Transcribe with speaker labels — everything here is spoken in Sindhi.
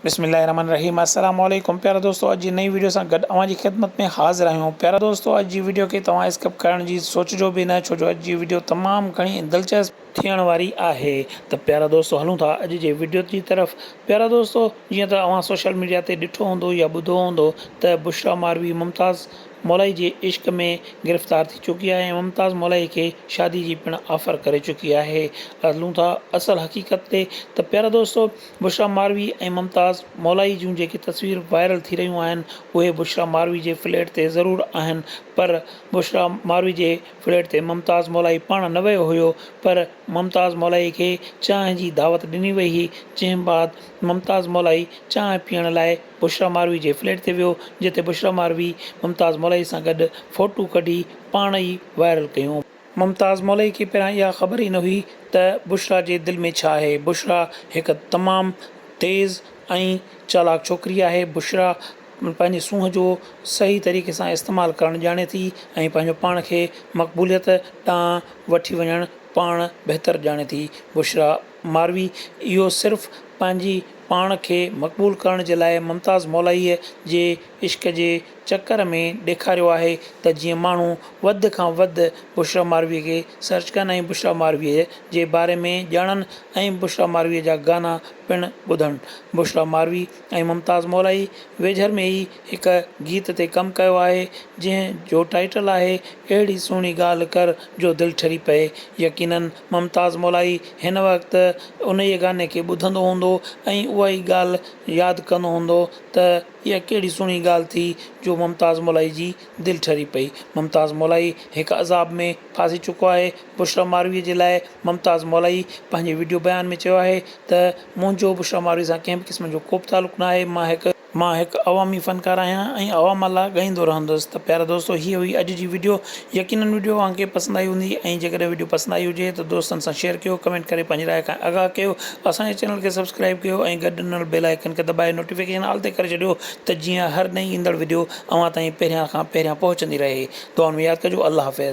Speaker 1: بسم الله الرحمن الرحيم السلام عليڪم پيارا دوستو اڄ جي نئين ويڊيو سان گڏ اوهان جي خدمت ۾ حاضر آهيون پيارا دوستو اڄ جي ويڊيو کي توهان اسڪپ ڪرڻ جي سوچجو به نه ڇو جو اڄ جي ويڊيو تمام گهڻي دلچسپ ٿيڻ واري آهي ته پيارا دوستو هلون ٿا اڄ جي ويڊيو جي طرف پيارا دوستو جيئن ته اوهان سوشل ميڊيا تي ڏٺو هوندو يا ٻڌو هوندو ته بشرا ماروي ممتاز مولائي جي عشق ۾ گرفتار ٿي چڪي آهي ۽ ممتاز مولائي کي شادي جي پڻ آفر ڪري چڪي آهي هلون ٿا اصل حقيقت تي ته پيارا دوستو بشريٰ ماروي ۽ ممتاز مولائي جون جيڪي تصوير وائرل ٿي رهيون آهن اهي بشريٰ ماروي جي فليٽ تي ضرور آهن پر بشريٰ ماروي جي فليٽ تي ممتاز مولائي پاڻ نه ويو هيو پر ممتاز مولائي کي چانهه جي دعوت ڏني وئي هئي جنهن بعد ممتاز مولائي چانهه پيئڻ لاء بشريٰ ماروي جي فليٽ تي ويو جتي بشريٰ ماروي ممتاز مولائي سان گڏ فوٽو ڪڍي پاڻ ئي وائرل ڪيون. ممتاز مولئي کي پهريان اها خبر ئي نه هئي ته بشريٰ جي دل ۾ ڇا آهي. بشريٰ هڪ تمام تيز ۽ چالاڪ ڇوڪري آهي. بشريٰ پنهنجي سونهن جو صحيح طريقي سان استعمال ڪرڻ ڄاڻي ٿي ۽ پنهنجو پاڻ کي مقبوليت ڏانهن وٺي وڃڻ پاڻ بهتر ڄاڻي ٿي. بشريٰ ماروي اهو صرف پنهنجي پاڻ کي مقبول ڪرڻ جي لاء ممتاز مولائيء جي عشق جي چڪر ۾ ڏيکاريو آهي ته جيئن ماڻهو وڌ کان وڌ بشريٰ مارويء کي سرچ ڪن ۽ بشريٰ مارويء جي باري ۾ ڄاڻن ۽ بشريٰ مارويء جا گانا پڻ ٻڌن. بشريٰ ماروي ۽ ممتاز مولائي ويجهر ۾ ئي هڪ گيت تي ڪم ڪيو آهي، جنهن جو ٽائيٽل آهي، اهڙي سهڻي ڳالهه ڪر جو دل ٺري پئي. يقينن ممتاز مولائي هن وقت انهيء گاني کي ٻڌندو هوندو ۽ اهائي ڳالهه ياد ڪندو هوندو ته، اها ڪهڙي سهڻي ڳالهه ٿي جو ممتاز مولائي جي دل ٺري پئي. ممتاز مولائي هڪ عذاب ۾ ڦاسي چڪو آهي. بشريٰ مارويء جي لاء ممتاز مولائي پنهنجي وڊيو بيان ۾ چيو آهي ته منهنجو بشريٰ مارويء سان ڪنهن به قسم جو ڪو به تعلق نه آهي مان هڪ مان هڪ عوامي فنڪار آهيان ۽ عوام لاء ڳائيندو رهندس ته پيارا دوستو هيء هئي اڄ جي وڊيو. يقينن وڊيو اوهان کي پسند آئي هوندي ۽ جيڪڏهن وڊيو پسند آئي هجي ته دوستن سان شيئر ڪيو ڪمينٽ ڪري پنهنجي راء کان آگاهه ڪيو اسان جي چينل کي سبسڪرائيب ڪيو ۽ گڏ ڏنل بيل آئيڪن کي دٻائي نوٽيفڪيشن آل تي ڪري ڇڏيو ته جيئن هر نئين ايندڙ وڊيو اوهان تائين پهريان کان پهريان پهچندي رهي دعائن ۾ ياد ڪجو الله حافظ.